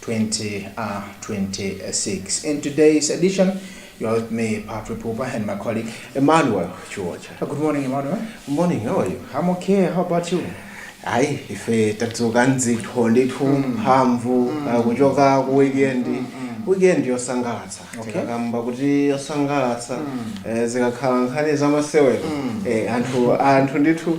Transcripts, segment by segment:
2026. In today's edition, you are with me, Patrick Pupa, and my colleague Emmanuel Chuocha. Good morning, Emmanuel. Good morning, how are you? I'm okay, how about you? hayi ife tadzuka nzathu ndithu mphamvu uh, kuchoka ku weekend weekend yosangalatsa Okay. tikakamba kuti yosangalatsa eh, zikakhala nkhani zamasewero eh, anthu anthu ndithu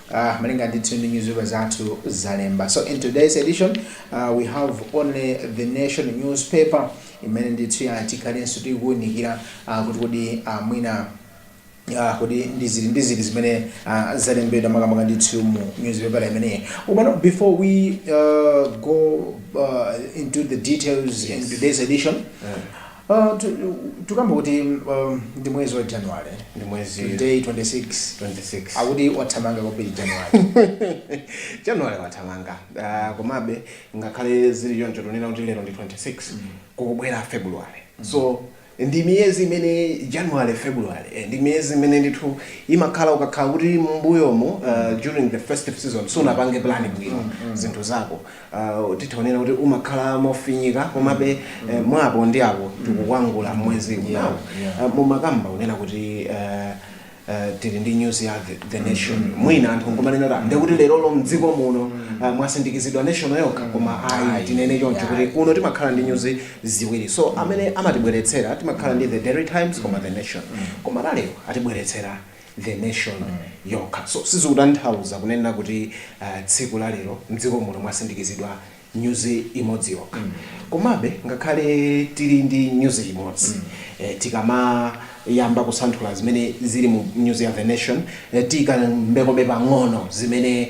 Ah, malinga ndithu ndi newspaper zathu zalemba. So in today's edition, uh, we have only the nation newspaper imene ndithu ya tikhalenso tikuunikira uh, kuti kodi uh, mwina uh, kodi ndi ziti ndi ziti zimene uh, zalembedwa makamaka ndithu mu newspaper imeneyi. Komano before we uh, go uh, into the details in Yes. today's edition, Tikukamba kuti ndi mwezi wa January, today 26, akuti wathamanga kwambiri January. January wathamanga, komabe ngakhale zili choncho tikunena kuti lero ndi 26, kukubwera February. So, ndi miyezi imene, January, February, ndi miyezi imene ndithu imakhala ukakhala kuti m'mbuyomu, during the festive season, sunapange plan bwino zinthu zako, Uh, titha kunena kuti umakhala mofinyika komabe mm, eh, mm. mwapo ndi apo mm. tikukwangula mwezi unowo yeah, yeah. uh, mumakamba kunena kuti uh, Uh, tili ndi nyuzi ya the, the mm. nation mm -hmm. mwina anthu nkumanena kuti ndekuti lerolo mdziko muno mm -hmm. uh, mwasindikizidwa nation yokha koma ayi tinene choncho kuti kuno timakhala ndi nyuzi ziwiri so mm -hmm. amene amatibweretsera timakhala ndi the Daily Times koma the nation mm -hmm. koma lalerowa atibweretsera The Nation yokha. So sizikutanthauza kunena kuti tsiku la lero m'dziko muno mwasindikizidwa nyuzi imodzi yokha. Komabe ngakhale tili ndi nyuzi imodzi, tisanayambe kusanthula zimene zili mu nyuzi ya The Nation tikambekobe pang'ono zimene.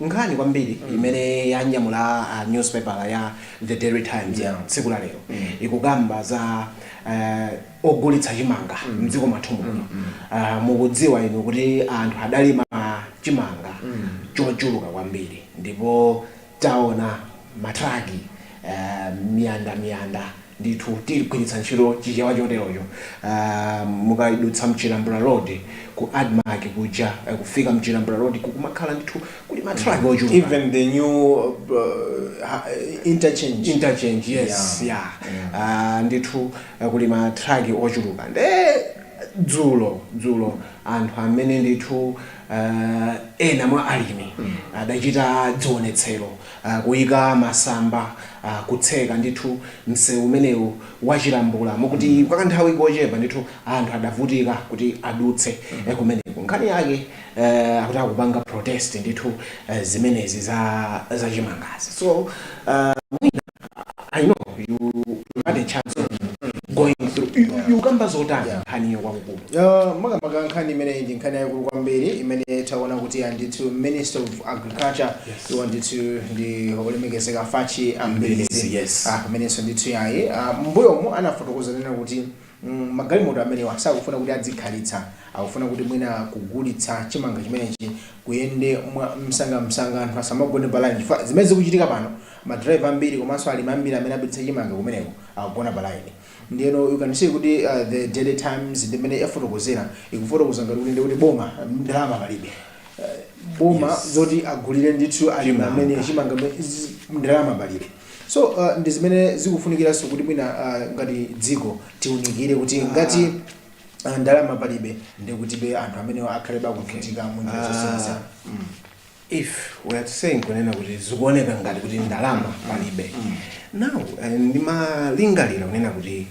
Nkhani kwambiri imene yanyamula a newspaper ya the daily times ya tsiku la lero ikukamba za ogulitsa chimanga mdziko mwathu muno mukudziwa inu kuti anthu adalima chimanga chochuluka kwambiri ndipo taona matraki miyanda miyanda ndithu tigwiritsa ntchito chichewa choterocho mukadutsa mchilambula road ku admarc kuja kufika mchilambula road kumakhala ndithu kuli matraki ochuluka even the new interchange interchange yes ya yeah. yeah. yeah. uh, ndithu uh, kuli matraki ochuluka nde dzulo dzulo mm. anthu amene ndithu uh, ena mwa alimi mm. adachita dzionetsero kuika masamba, kutseka ndithu msewu umenewu wa Chilambula, mokuti kwa kanthawi kochepa ndithu anthu adavutika kuti adutse kumeneko. Nkhani yake akuti akupanga protest ndithu zimenezi za chimangazi. So mwina. I know you you had a chance of going through you, ikukamba zotani Yeah. nkhaniyo kwakukulu Uh, makamaka nkhani imeneyi ndi nkhani yayikulu kwambiri imene taona kuti ndithu minister of agriculture Yes. iwo ndithu ndi olemekezeka Fachi Mbilizi, a Mbilizi yes. Ah, amenenso ndithu yayi Ah, m'mbuyomu anafotokoza nena kuti mm, magalimoto amenewa sakufuna kuti adzikhalitsa akufuna kuti mwina kugulitsa chimanga chimenechi kuyende mwa msangamsanga anthu asamagone pa line chifukwa zimene zikuchitika pano ma driver ambiri komanso alimi ambiri amene apititsa chimanga kumeneko akugona pa line ndiyeno you can see kuti the daily times ndi mmene yafotokozera ikufotokoza ngati kuti ndikuti boma ndalama palibe boma yes. zoti agulire ndithu alimi amenewa chimanga ndalama palibe so uh, ndi zimene zikufunikiranso kuti mwina uh, ngati dziko tiunikire kuti ngati uh, ndalama palibe ndikutibe anthu amene akhalebe akuvutika okay. munjira zosiyanasiyana mm. if we are saying kunena kuti zikuoneka ngati kuti ndalama palibe now eh, ndimalingalira kunena kuti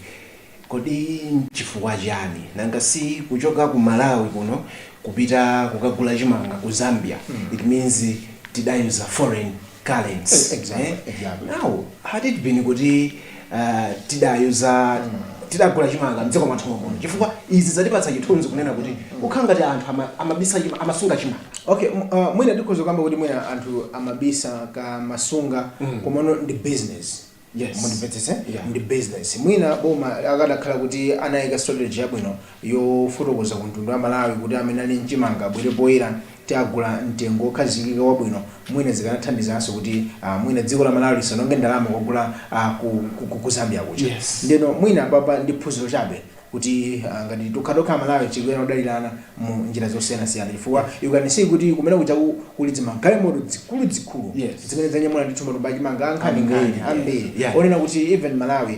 kodi nchifukwa chani nanga si kuchoka ku malawi kuno kupita kukagula chimanga ku zambia it means tidayuza foreign currency Exactly, eh? exactly. now had it been kuti uh, tidayuza tidagula chimanga mdziko mwathu mommuno chifukwa izi zatipatsa chithunzi kunena kuti kukhala ngati anthu ama- amabisa chima- amasunga chimanga okay m- uh, mwina tikhoza kukamba kuti mwina anthu amabisa kaya amasunga komano ndi business Yes. mundimvetsese Yeah. ndi business mwina boma akadakhala kuti anayika strategy yabwino yofotokoza ku mtundu wa Malawi kuti amene ali ndi chimanga abwere poyera tiagula mtengo wokhazikika wabwino mwina zikanathandizanso kuti mwina dziko la Malawi lisaononge ndalama kukagula ku Zambia kuja yes. ndeno mwina apapa ndi phunziro chabe kuti ah, ngati tokhatokha amalawi tikuyenera kudalirana mu njira zosiyanasiyana chifukwa you can see kuti kumene kuja ku- kuli dzimagalimoto zikuluzikulu Yes. zimene zanyamula ndithu matumba achimanga ankhaninkhani Yeah, yeah, ambiri yeah. onena kuti even malawi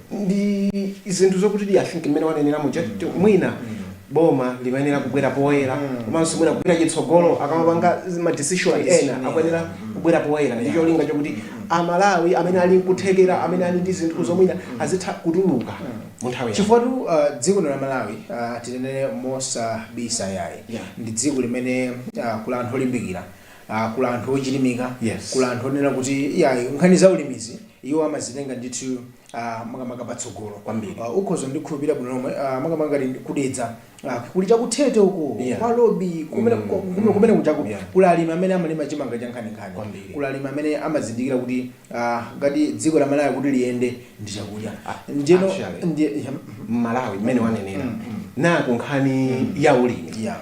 ndi zinthu zokutidi i think mmene wanenera muja kuti mwina boma limayenera kubwera poyera komanso mwina kupita chitsogolo akamapanga ma decision ena akuyenera kubwera poyera ndi cholinga chokuti amalawi amene ali nkuthekera amene ali ndi zinthuzo mwina azitha kutuluka mu nthawi yake. chifukwatu uh, dziko lino la malawi uh, tinenere mosabisa yayi Yeah. ndi dziko limene uh, kuli anthu olimbikira Ah, kuli anthu ochilimika, Yes. kuli anthu onena kuti iyayi nkhani za ulimizi iwo amazitenga ndithu ah, makamaka patsogolo Kwambiri. Ah, ukhoza kundikhulupirira bwino lomwe ah, makamaka ngati ku Dedza ah, kuli chaku Thete uko Yeah. kwa Lobi kumene Mm, ku- kumene- kumene kujako Yeah. kuli alimi amene amalima chimanga cha nkhaninkhani Kwambiri. kuli alimi amene amazindikira kuti ah, ngati dziko la Malawi kuti liyende ndi chakudya Ah, ndiyeno actually. ndiye- mhm, mmalawi mmene wanenera naku nkhani ya ulimi yeah.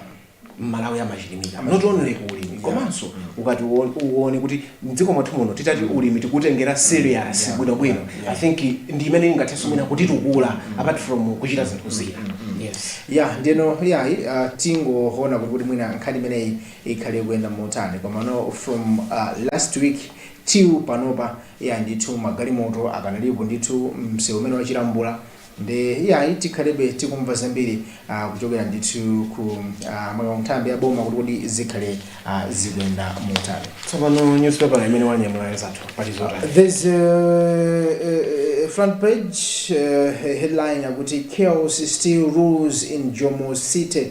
mmalawi amachilimika not only ku ulimi komanso ukati uwo- uwone kuti mdziko mwathu muno titati ulimi tikutengera serious bwinobwino i think ndi imene ingathenso mwina kutitukula apart from kuchita zinthu zina yes ya nde iyayi uh, tingoona kuti kuti mwina nkhani imeneyi ikhale kuyenda motani komano from uh, last week till panopa ya ndithu magalimoto akanalipo ndithu msewu umene wachilambula Nde iyayi tikhalebe tikumva zambiri kuchokera ndithu ku amalaw nthambi ya boma kuti kodi zikhale zikuyenda motani. Tsopano newspaper imene wanyamulayo mzathu pali zotani? There's a, a, a front page uh, headline akuti chaos still rules in Jomo city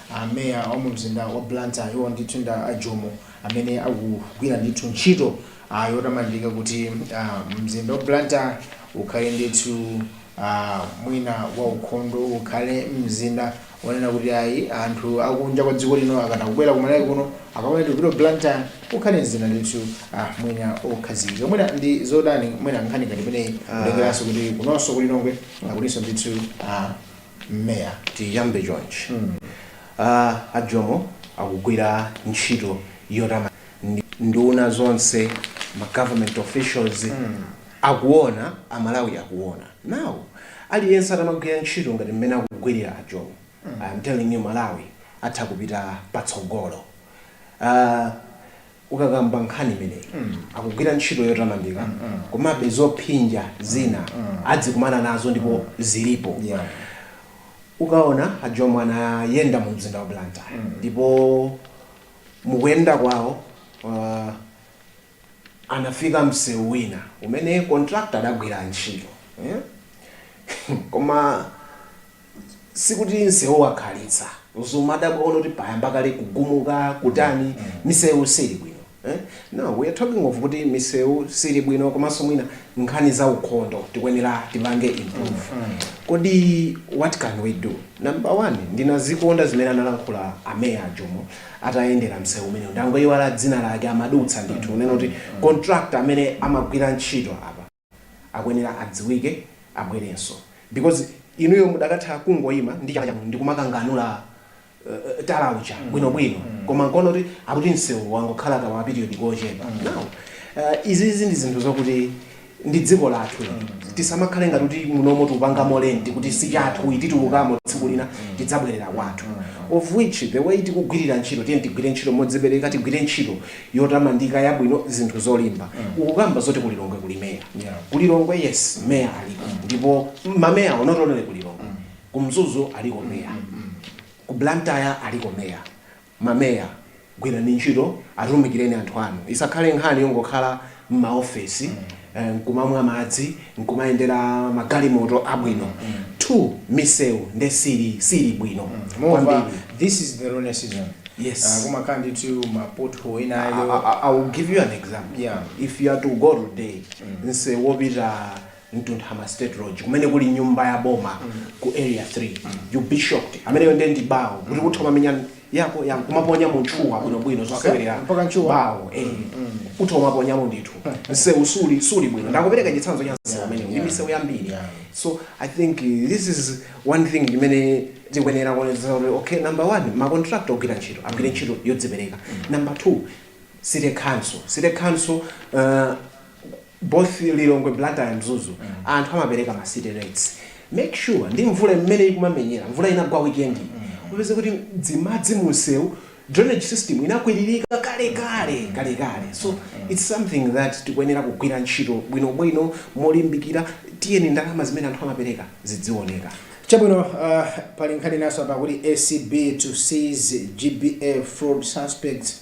a meya wa mu mzinda wa Blantyre iwo ndithu nda a Jomo amene akugwira ndithu ntchito yotamandika kuti mzinda wa Blantyre ukhale ndithu mwina wa ukhondo, ukhale mzinda onena kuti ayi anthu akunja kwa dziko lino akamabwera ku Malawi kuno akamati tikupita Blantyre ukhale mzinda ndithu mwina okhazikika. Mwina ndi zotani mwina nkhani ngati imeneyi kutengeranso kuti kunonso ku Lilongwe akulinso ndithu. meya. Tiyambe chonchi uh a Jomo akugwira ntchito yotamandika ndi nduna zonse ma government officials akuona a Malawi akuona now aliyense atamagwira ntchito ngati mmene akugwirira a Jomo I am telling you Malawi atha kupita patsogolo uh. Ukakamba nkhani imeneyi akugwira ntchito yotamandika komabe zophinja zina adzikumana nazo ndipo zilipo ukaona a Jomo anayenda mu mzinda wa Blantyre ndipo mukuyenda kwawo anafika msewu wina umene contractor adagwira ntchito koma sikuti msewu wakhalitsa ndikumadabwa kuona kuti payamba kale kugumuka kutani misewu sili bwino eh? no we are talking of kuti misewu sili bwino komanso mwina nkhani za ukhondo tikuyenera tipange improve kodi what can we do number one ndinazikonda zimene analankhula ameya ajomo atayendera msewu umenewu ndangoyiwala dzina lake amadutsa ndithu kunena kuti contractor amene amagwira ntchito apa akuyenera adziwike abwerenso because inuyo mudakatha kungoima ndi chala chanu ndikumakanganula tala uja bwinobwino koma nkuona kuti akuti msewuwo wangokhala kama period kochepa now uh, izizi ndi zinthu zokuti ndi dziko lathu tisamakhale ngati kuti munomo tikupangamo rent kuti si chathu titulukamo tsiku lina tidzabwerera kwathu of which the way tikugwirira ntchito tiyeni tigwire ntchito modzipereka tigwire ntchito yotamandika yabwino zinthu zolimba mm. ukukamba zoti kulilongwe kuli meya yeah. kulilongwe yes meya aliko mm. ndipo mameya onse otere kulilongwe mm. kumzuzu aliko meya mm. mm. ku blantyre aliko meya mameya gwirani ntchito atumikireni anthu anu isakhale nkhani yongokhala m'maofesi, nkumamwa madzi, nkumayendera magalimoto abwino, 2 misewu nde sili bwino Moreover, this is the rainy season. Yes. Uh, kumakhala ndithu ma pothole I, ena ayo. I, I will give you an example. Yeah. If you are to go today, nseu wopita Ntunthama State Lodge kumene kuli nyumba ya boma ku Area 3. You'll be shocked. Ameneyo ndiye ndi bawo. Kuti kutha kumamenya yako ya kumaponyamo ntchuwa bwinobwino zosewerera Mpaka ntchuwa? bawo. Eh. Utha kumaponyamo ndithu. Msewu suli bwino. Ndakupereka chitsanzo cha msewu umenewu. Ndi misewu yambiri. Yeah. So I think uh, this is one thing imene tikuyenera kuonetsetsa kuti okay number one ma contractor ogwira ntchito agwire ntchito yodzipereka. Number two city council. City council uh, both Lilongwe, Blantyre and Mzuzu anthu amapereka ma city rates. Make sure ndi mvula mmene ikumamenyera, mvula inagwa weekend iyi upeze kuti dzimadzi munsewu drainage system inakwiririka kale kale kale kale so it's something that tikuyenera kugwira ntchito bwino bwino molimbikira tiyeni ndalama zimene anthu amapereka zidzioneka. Chabwino, uh, pali nkhani naso apa kuti ACB to seize GBA fraud suspects.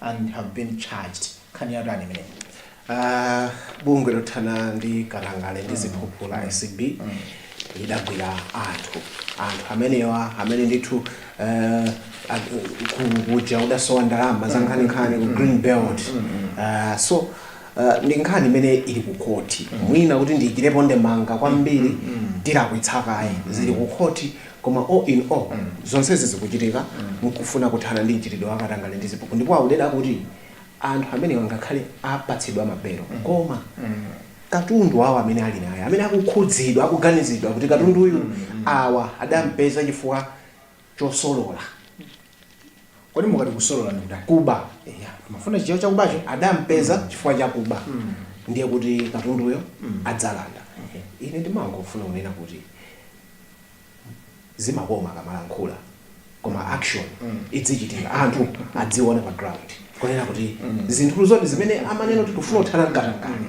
and have been charged nkhani yatani imeneyi Uh, bungwe lothana ndi katangale ndi ziphuphu la acb lidagwira anthu anthu amenewa amene ndithu uh, a- ku- kuja kudasowa ndalama za nkhaninkhani ku green belt Uh, so uh, ndi nkhani imene ili ku khoti mwina kuti ndiikirepo ndemanga kwambiri tilakwitsa kayi zili ku khoti Koma all in all, zonsezi zikuchitika mkufuna kuthana ndi mchitidwe wa katangale ndi ziphuphu ndipo auzidwa kuti anthu amenewa ngakhale apatsidwa ma belo koma katundu wawo amene ali naye amene akukhudzidwa akuganizidwa kuti katunduyu awa adampeza chifukwa chosolola Kodi mukati kusolola ndi kutani? kuba eya Mufuna chichewa chakubacho? adampeza chifukwa chakuba ndiye kuti katunduyo adzalanda ine ndimangofuna kunena kuti zimakoma akamalankhula koma action idzichitika anthu adziona pa ground kunena kuti zinthu zoti zimene amanena kuti tufuna kuthana mkatangale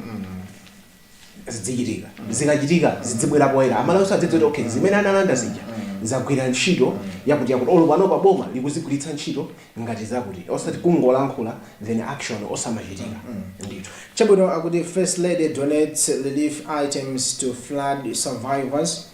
zidzichitika zikachitika zidzibwera poyera amalawi adzidziwa kuti okay zimene analanda zija zagwira ntchito yakuti yakuti olo panopa boma likuzigwiritsa ntchito ngati zakuti osati kungolankhula then action osamachitika ndithu Chabwino akuti First Lady donates relief items to flood survivors.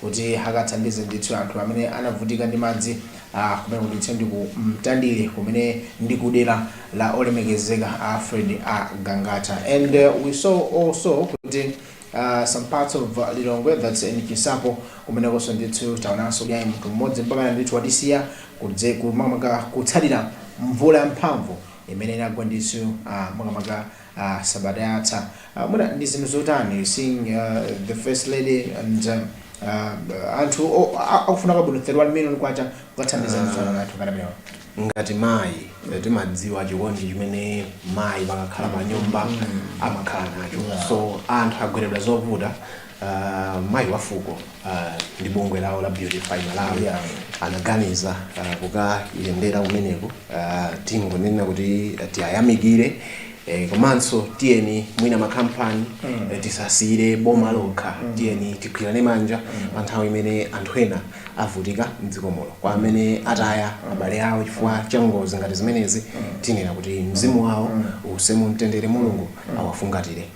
kuti akathandize ndithu anthu amene anavutika ndi madzi kumene kuti ndi ku Mtandire kumene ndi ku dera la olemekezeka Alfred Gangata and uh, we saw also kuti uh, some parts of uh, Lilongwe that's in Chinsapo kumenekonso ndithu taonanso kuti ayi munthu mmodzi mpaka ndithu watisiya kudze- makamaka kutsatira mvula yamphamvu imene inagwa ndithu uh, makamaka ah sabata yatha ah mwina ndi zinthu zotani seeing ah the first lady and ah anthu o- a- akufuna kwabwino 31 million kwacha kukathandiza ndithu anthu ngati amenewa ngati mayi eh, timadziwa chikondi chimene mayi pakakhala pa nyumba amakhala nacho so anthu agweredwa zovuta Mayi wa Fuko ndi bungwe lawo la Beautify Malawi anaganiza kukayendera kumeneko. Tingonena kuti tiwayamikire komanso tiyeni mwina makampani tisasiyire boma lokha. Tiyeni tigwirane manja pa nthawi imene anthu ena avutika m'dziko muno. Kwa amene ataya abale awo chifukwa cha ngozi ngati zimenezi, tinena kuti mzimu wawo uuse mu mtendere, Mulungu awafungatire.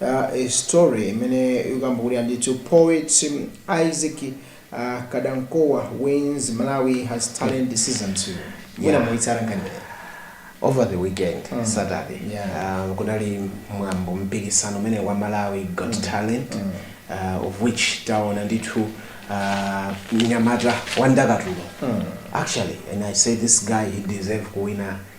a story imene ikukamba kuti ayi ndithu poet Isaac kadankowa wins malawi has talent season 2 mwina Yeah. mwaitsata nkhani imeneyi. over the weekend Mm. saturday Yeah. uh, kunali mwambo mpikisano umene wa malawi got talent uh, of which taona ndithu uh, mnyamata wa ndakatulo Mm. actually and i say this guy he deserve kuwina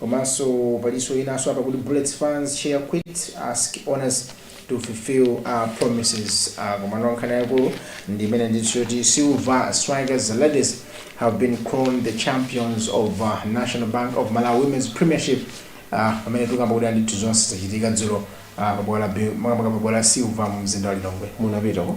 Komanso palinso inanso apa kuti Bullets fans chair quits asks owners to fulfill uh promises ah komano nkhani yaikulu ndi imene ndithu yoti Silver Strikers the ladies have been crowned the champions of ah, National Bank of Malawi Women's Premiership ah pamene tikukamba kuti ayi ndithu zonse zachitika dzulo ah, pa bwalo la Bi- makamaka pa bwalo la Silver mu mzinda wa Lilongwe munapitako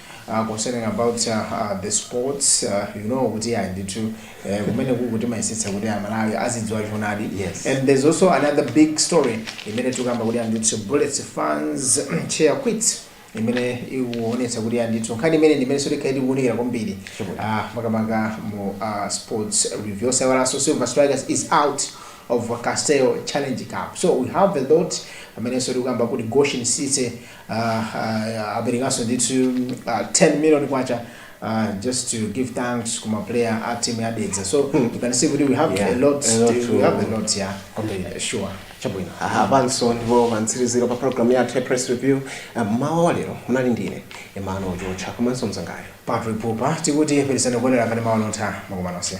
uh, concerning about uh, uh, the sports uh, you know kuti ayi ndithu eh, kumene kuno timayesetsa kuti amalawi azidziwa choonadi Yes. and there's also another big story imene tikukamba kuti ayi ndithu bullets fans chair quits imene ikuonetsa kuti ayi ndithu nkhani imeneyi ndi imenenso tikhale tikuunikira kwambiri Sure. Ah, makamaka mu uh, sports review osayiwalanso silver strikers is out of castel challenge cup so we have a lot amenenso tikukamba kuti goshen city Aaa aperekanso ndithu aaa 10 million kwacha aaa just to give thanks ku ma player a team ya Dedza so you can see kuti we have a lot to we have a lot ya sure chabwino apanso ndipo pamtsiliziro pa program yathu ya press review mmawa wa lero munali ndine emmanuel jocha komanso mzangayo Patrick Pupa tikuti pitirizani kuonera kanema wa Luntha makomo onse